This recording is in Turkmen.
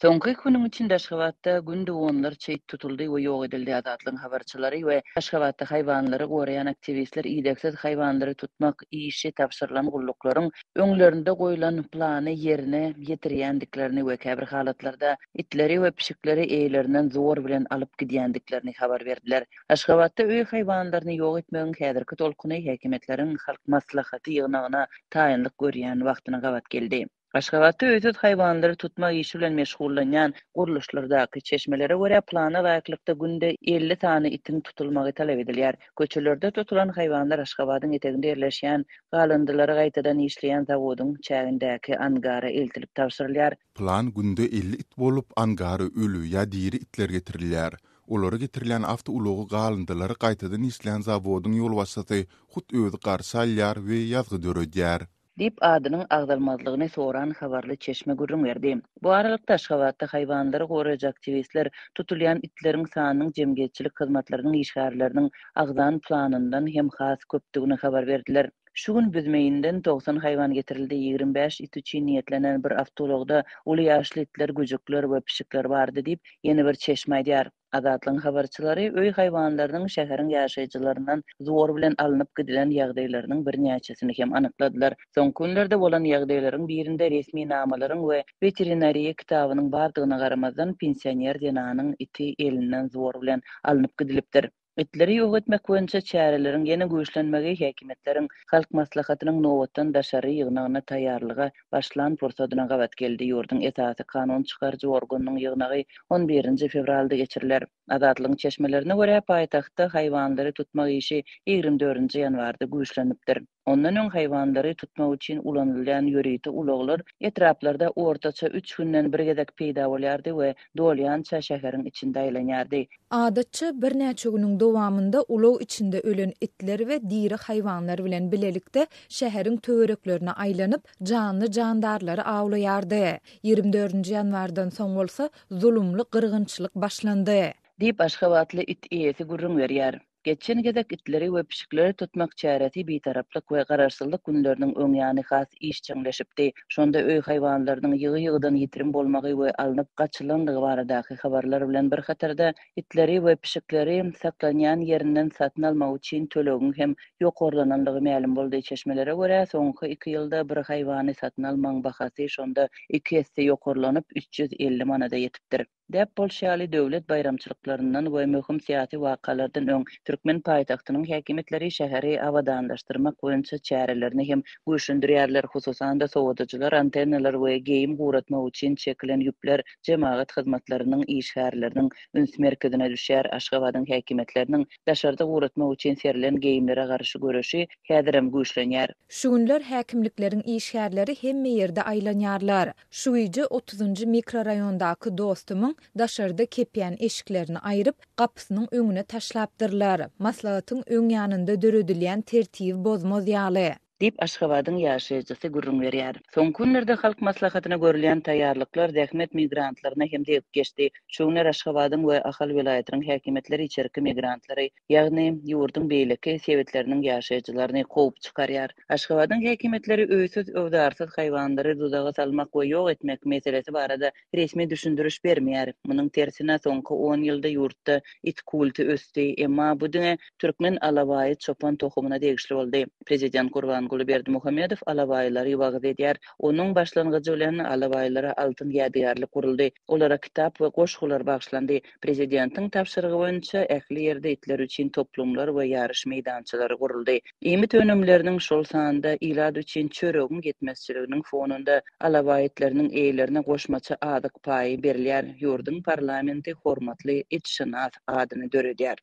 Soňky iki günüň içinde Aşgabatda günde onlarça it tutuldy we ýok edildi. Azatlygyň habarçylary we Aşgabatda haýwanlary goraýan aktiwistler idegsiz haýwanlary tutmak işi tabşyrylan gulluklaryň öňlerinde goýlan plany ýerine ýetirýändiklerini we käbir halatlarda itleri we pişikleri eýlerinden zor bilen alyp gidýändiklerini habar berdiler. Aşgabatda öý haýwanlaryny ýok etmegiň häzirki tolkuny häkimiýetleriň Halk Maslahaty ýygnagyna taýynlyk görýän wagtyna gabat geldi. Aşgabatda öýsüz haýwanlary tutmak işi bilen meşgullanýan gurluşlardaky çeşmelere görä, plana laýyklykda günde elli sany itiň tutulmagy talap edilýär. Köçelerde tutulan haýwanlar Aşgabadyň eteginde ýerleşýän galyndylary gaýtadan işleýän zawodyň çägindäki angara eltilip tabşyrylýar. Plan günde elli it bolup, angara öli ýa diri itler getirilýär. Olara getirilýän awtoulagy galyndylary gaýtadan işleýän zawodyň ýolbaşçysy hut özi garşy alýar we ýazgy döredýär. Diýip, adynyň agzalmazlygyny soran habarly çeşme gürrüň berdi. Bu aralykda, Aşgabatda haýwanlary goraýjy aktiwistler tutulýan itleriň sanynyň jemgyýetçilik hyzmatlarynyň işgärleriniň agzan planyndan hem has köpdügini habar berdiler. Şu gün Büzmeýinden togsan haýwan getirildi. Ýigrimi bäş it üçin niýetlenen bir awtoulagda uly ýaşly itler, güjükler we pişikler bardy diýip, ýene bir çeşme aýdýar. Azatlygyň habarçylary öý haýwanlarynyň şäheriň ýaşaýjylaryndan zor bilen alnyp gidilen ýagdaýlarynyň birnäçesini hem anykladylar. Soňky günlerde bolan ýagdaýlaryň birinde resminamalaryň we weterinariýa kitabynyň bardygyna garamazdan, pensioner zenanyň iti elinden zor bilen alnyp gidilipdir. Itleri ýok etmek boýunça çäreleriň ýene güýçlenmegi häkimiýetleriň Halk Maslahatynyň nobatdan daşary ýygnagyna taýýarlyga başlan pursadyna gabat geldi. Ýurduň esasy kanun çykaryjy organynyň ýygnagy on birinji fewralda geçiriler. Azatlygyň çeşmelerine görä, paýtagtda haýwanlary tutmak işi ýigrimi dördünji ýanwarda güýçlenipdir. Ondan öň haýwanlary tutmak üçin ulanylýan ýörite ulaglar etraplarda ortaça üç günden bir gezek peýda bolýardy we dolýança şäheriň içinde aýlanýardy. Adatça, birnäçe günüň dowamynda ulag içinde ölen itler we diri haýwanlar bilen bilelikde şäheriň töwereklerine aýlanyp, janly-jandarlary awlaýardy. Ýigrimi dördünji ýanwardan soň bolsa zulumly gyrgynçylyk başlandy. Diýip, aşgabatly it eýesi gürrüň berýär. Geçen gezek itleri we pişikleri tutmak çäresi Bitaraplyk we Garaşsyzlyk günleriniň öňýany has işjeňleşipdi. Şonda öý haýwanlarynyň ýygy-ýygydan ýitirim bolmagy we alnyp gaçylandygy baradaky habarlar bilen bir hatarda, itleri we pişikleri saklanýan ýerinden satyn almak üçin tölegiň hem ýokarlanandygy mälim boldy. Çeşmelere görä, soňky iki ýylda bir haýwany satyn almagyň bahasy şonda iki esse ýokarlanyp, üç ýüz elli manada ýetipdir. Däp bolşy ýaly, döwlet baýramçylyklaryndan we möhüm syýasy wakalardan öň, türkmen paýtagtynyň häkimiýetleri şäheri abadanlaşdyrmak boýunça çärelerini hem güýçlendirýärler, hususan-da, sowadyjylar, antennalar we geýim guratmak üçin çekilen ýüpler jemagat hyzmatlarynyň işgärleriniň üns merkezine düşýär. Aşgabadyň häkimiýetleriniň daşarda guratmak üçin serilen geýimlere garşy göreşi häzirem güýçlenýär. Şu günler häkimlikleriň işgärleri hemme ýerde aýlanýarlar. Şu gije otuzynjy mikroraýondaky dostumyň daşarda kepýän eşiklerini aýryp, gapysynyň öňüne taşlapdyrlar, maslahatyň öň ýanynda döredilýän tertibi bozmaz ýaly. Diýip, Aşgabadyň ýaşaýjysy gürrüň berýär. Soňky günlerde Halk Maslahatyna görülýän taýýarlyklar zähmet migrantlaryna hem degip geçdi. Şu günler Aşgabadyň we Ahal welaýatynyň häkimiýetleri içerki migrantlary ýagny ýurduň beýleki sebitleriniň ýaşaýjylaryny kowup çykarýar. Aşgabadyň häkimiýetleri öýsüz-öwzarsyz haýwanlary duzaga salmak we ýok etmek meselesi barada resmi düşündiriş bermeýär. Munuň tersine, soňky on ýylda ýurtda it kulty ösdi. Emma bu diňe türkmen alabaýy çopan tohumyna degişli boldy. Prezident Gurbanguly Berdimuhamedow alabaýylary wagyz edýär. Onuň başlangyjy bilen alabaýlara altyn ýadygärlik guruldy. Olara kitap we goşgular bagyşlandy. Prezidentiň tabşyrygy boýunça ähli ýerde itler üçin toplumlar we ýaryş meýdançalary guruldy. Iýmit önümleriniň, şol sanda ilat üçin çöregiň ýetmezçiliginiň fonunda alabaý itleriniň eýelerine goşmaça azyk paýy berilýär. Ýurduň parlamenti hormatly itşynas adyny döredýär.